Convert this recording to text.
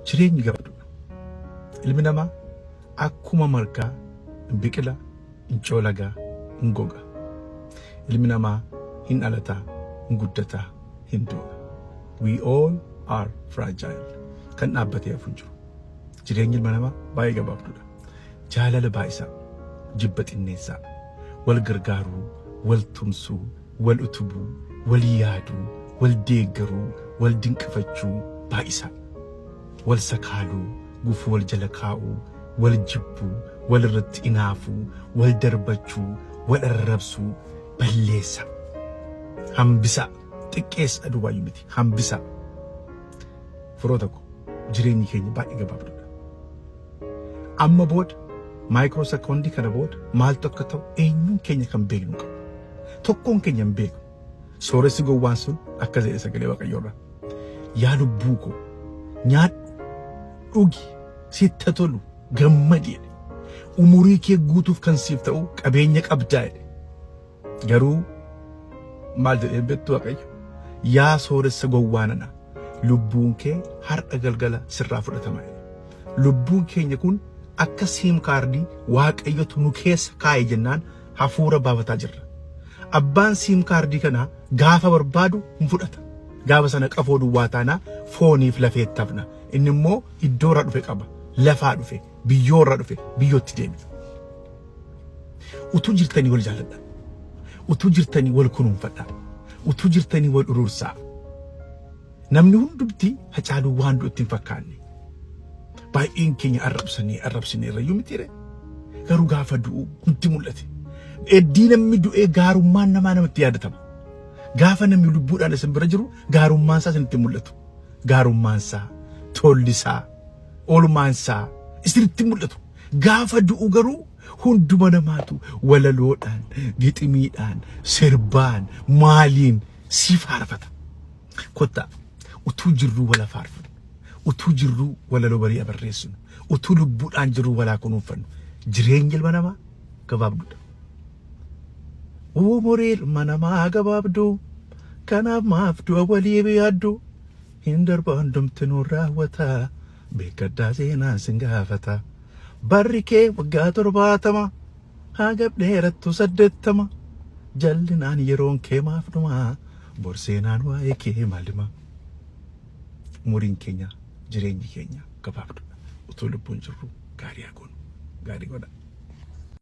Jireenyi gabaadudha. Ilmi namaa akkuma margaa hin biqila, hin coolagaa, hin goga. Ilmi namaa hin dhalataa, hin guddataa, hin du'a. We all are fragile. Kan dhaabbatee hafu hin jiru. Jireenyi ilma namaa baay'ee gabaabdudha. Jaalala baay'isaa, jibba xinneessaa, wal gargaaruu, wal tumsuu, wal utubuu, wal yaaduu, wal deeggaruu, wal dinqifachuu baay'isaa. Wal sakaaluu, gufuu wal jala kaa'uu, wal jibbuu, wal irratti inaafuu, wal darbachuu, wal arrabsuu balleessaa. Hambisaa. Xiqqeessaa duwwaayyuu miti. Hambisaa. Firoota koo jireenyi keenya baay'ee gabaabduudha. Amma booda maayikiroo sekoondii kana booda maaltu akka ta'u eenyuun keenya kan beeknu hin qabnu. Tokkoon keenya hin beeknu. Sooressi gowwaan sun akkas jedhe sagalee Waaqayyoorraa. Yaa lubbuu koo nyaadhu, dhugi, sitti haa tolu, gammadi jedhe. Umurii kee guutuuf kan siif ta'u qabeenya qabdaa jedhe. Garuu maal jedhee beektu Waaqayyo? Yaa sooressa gowwaa nana, lubbuun kee har'a galgala sirraa fudhatama jedhe. Lubbuun keenya kun akka siim kaardii Waaqayyotu nu keessa kaa'e jennaan hafuura baafataa jirra. Abbaan siim kaardii kanaa gaafa barbaadu hin fudhata. Gaafa sana qafoo duwwaa taanaa fooniif lafeetti hafna. Inni immoo iddoo irraa dhufe qaba. Lafaa dhufe, biyyoo irraa dhufe, biyyootti deebi'a. Utuu jirtanii wal jaalladha. Utuu jirtanii wal kunuunfadha. Utuu jirtanii wal uruursaa. Namni hundumti Hacaaluu waan du'atti hin fakkaanne. Baay'een keenya arrabsanii arrabsine irrayyuu mitiire. Garuu gaafa du'u nutti mul'ate. Eddii namni du'ee gaarummaan namaa namatti yaadatama. Gaafa namni lubbuudhaan isin bira jiru gaarummaan isaa isinitti mul'atu. Gaarummaan isaa, tolli isaa, oolmaan isaa isinitti mul'atu. Gaafa du'u garuu hunduma namaatu walaloodhaan, giximiidhaan, sirbaan, maaliin sii faarfata. Kottaa utuu jirruu wala faarfannu, utuu jirruu walaloo barii abarreessinu, utuu lubbuudhaan jirruu walaa kunuunfannu. Jireenyi ilma namaa gabaabduudha. Umurii ilma namaa gabaabduu kanaaf maaf du'a walii biyaaddu hin darba hundumtinuu raawwata beekadhaa seenaan sin gaafata barri kee waggaa torbaatama. Haa gad dheerattu saddeettama. Jallinaan yeroon kee maaf dhuma? Bor seenaan waa'ee kee maal hima? Umuriin keenya jireenyi keenya gabaabdudha. Utuu lubbuun jirru gaarii haa goonu. Gaarii godhaa.